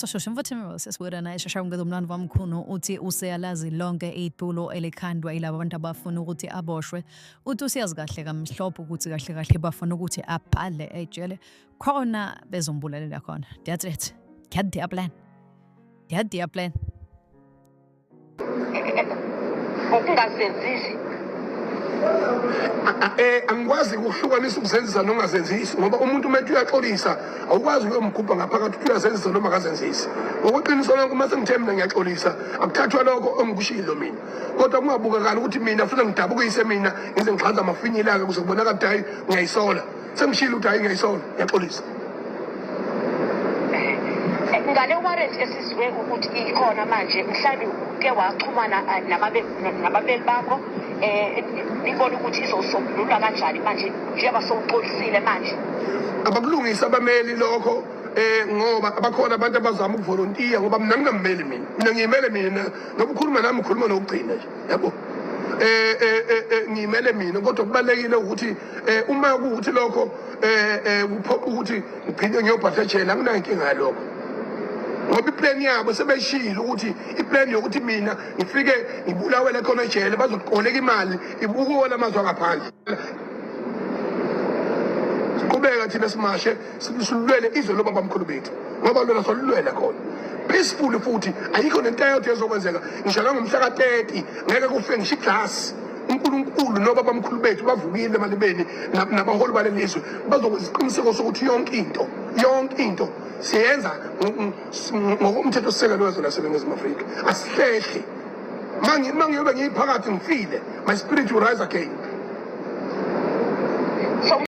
sashosha mfuthu imimosi esibuka naye shasha ngeza umlando wami mkhulu uthi useyalazi lonke itulo elikhandwa ilabo abantu abafuna ukuthi aboshwe uthi usiyazi kahle kamhlophe ukuthi kahle kahle bafuna ukuthi abhale ejele khona bezombulalela khona that's it get their plan Ya dia plan. Ukungasenzisi. Eh angikwazi ukuhlukanisa ukusenzisa nongazenzisi ngoba umuntu uma ethi uyaxolisa awukwazi ukuyomgubha ngaphakathi ukuthi uyazenzisa noma akazenzisi. Ngokuqiniso lonke uma sengithe mina ngiyaxolisa akuthathwa lokho ongikushilo mina. Kodwa kungabukakani ukuthi mina futhi ngidabukise mina ngize ngixhanza amafinyilaka kuze kubonakala ukuthi hayi ngiyayisola. Sengishilo ukuthi ayingeyisona ngiyaxolisa. ngale warrant esizwe ukuthi ikhona manje mhlawumbe uke waxhumana eh, nababeli bakho um nibona ukuthi izosombululwa kanjani manje njengoba sowuxolisile manje abakulungisa abameli lokho eh ngoba abakhona abantu abazama ukuvolontiya ngoba mina ngingammeli mina mina ngiyimele mina ngoba ukhuluma nami ukhuluma nokugcina nje yabo eh eh, eh, eh ngiyimele mina kodwa kubalekile ukuthi Eh uma ukuthi lokho eh, eh kuphoqa ukuthi ngiphinde ngiyobhatha ejele anginayo inkinga yalokho. Ngoba iplan yabo sebeshilo ukuthi iplan yokuthi mina ngifike ngibulawele khona ejele bazoqoleka imali ibukuwona amazwe angaphandle. Siqhubeka thina simashe silulele izwe lobaba mkhulu bethu ngoba lona solulwela khona. Peaceful futhi ayikho nento eyodwa ezokwenzeka ngisho nangomhla ka-30 ngeke kufe ngisho iglass uNkulunkulu nobabamkhulu bethu bavukile emalibeni nabaholi bale lizwe bazokuziqiniseko sokuthi yonke into yonke into siyenza ngokomthetho sisekelo wezwe laseningizimu afrika asihlehli ma ngiyobe ngiyiphakathi ngifile my spirit will rise again